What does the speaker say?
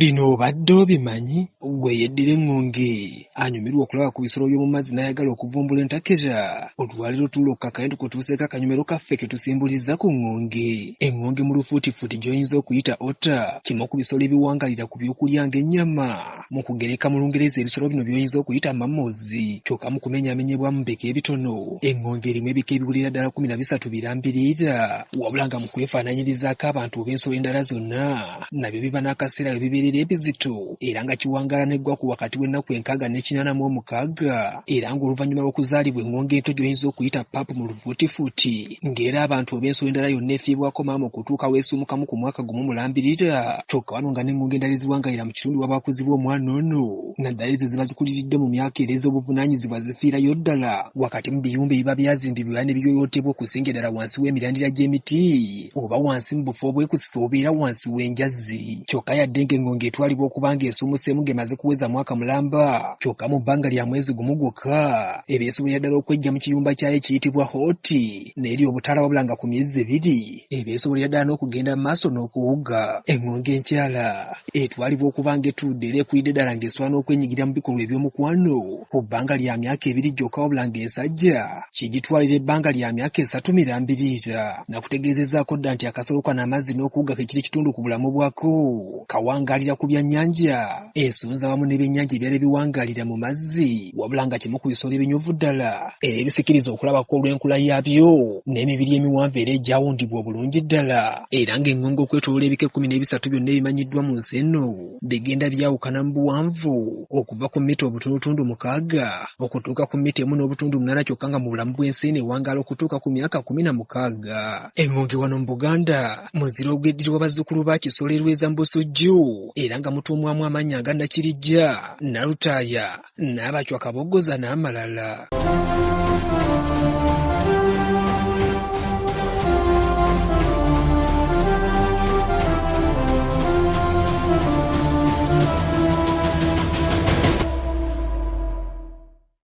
Bino obadde obimanyi? Ggwe yeddira eŋŋonge anyumirwa okulaba ku bisolo by'omu mazzi n'ayagala okuvumbula entakera, olwaleero tuula okukakanya tukutuuseeko akanyomero kaffe ke tusimbulizza ku ŋŋonge. Eŋŋonge mu lufuutifuuti gy'oyinza okuyita otter kimu ku bisolo ebiwangaalira ku byokulya ng'ennyama. Mu kugereka mu Lungereza ebisolo bino by'oyinza okuyita mammals kyokka mu kumenyaamenyebwamu mu bika ebitono, eŋŋonge erimu ebika ebiwerera ddala kkumi na bisatu birambirira. Wabula nga mu kwefaananyirizaako abantu oba ensolo endala zonna, nabyo biba n'akaseera we bibeerera ebizito era nga kiwangaala n'eggwako wakati w'ennaku enkaaga ne kinaana mu omukaaga era ng'oluvannyuma lw'okuzaalibwa eŋŋonge ento gy'oyinza okuyita pup mu lufuutifuuti, ng'era abantu olw'ensonga endala yonna efiibwako maama okutuuka lw'esuumukamu ku mwaka gumu mulambirira kyokka wano nga n'engongo endala eziwangalira mu kitundu waba wakuzibwa omwana ono naddala ezo eziba zikuliridde mu myaka era ez'obuvunaanyizibwa zifiirayo ddala wakati mu biyumba ebiba byazimbibwa era ne biyoyootebwa okusingira ddala wansi w'emirandira gy'emiti oba wansi mu bufo obwekusifu obubeera wansi w'enjazi kyokka yadde ng'engongo etwalibwa okuba ng'esuumuseemu ng'emaze kuweza mwaka mulamba kyokka mu bbanga lya mwezi gumu gwokka ebyo esobolera ddala okweggya mu kiyumba kyayo ekiyitibwa hoti n'eri obutaala wabula nga ku myezi ebiri ebyo esobolera ddala n'okugenda mu maaso n'okuwuga eŋŋongo enkyala etwalibwa okuba nga etuudde era ekulidde ddala ng'esobola n'okwenyigira mu bikolwa eby'omukwano ku bbanga lya myaka ebiri gyokka wabula ng'ensajja kigitwalira ebbanga lya myaka esatu mirambiriira nakutegeezezaako dda nti akasolo kano amazzi n'okuwuga ke kiri kitundu ku bulamu bwako kawangaalira ku byannyanja ensolo z'awamu n'ebyennyanja ebirala ebiwangaalira mu mazzi wabula nga kimu ku bisolo ebinyuvu ddala era ebisikiriza okulabako olw'enkula yaabyo n'emibiri emiwanvu era egyawundibwa obulungi ddala era ng'eŋŋongo okwetoloola ebika ekkumi n'ebisatu byonna ebimanyiddwa mu nsi eno bigenda byawukana mu buwanvu okuva ku mita obutundutundu mukaaga okutuuka ku mita emu n'obutundu munaana kyokka nga mu bulamu bw'ensi eno ewangaala okutuuka ku myaka kkumi na mukaaga. Engonge wano mu Buganda muzira ogweddirwa bazzukulu ba Kisolerweza mu Busujju era nga mutuumwamu amannya nga Nakirijja, Nalutaaya, Naabacwa Kaboggoza n'amalala.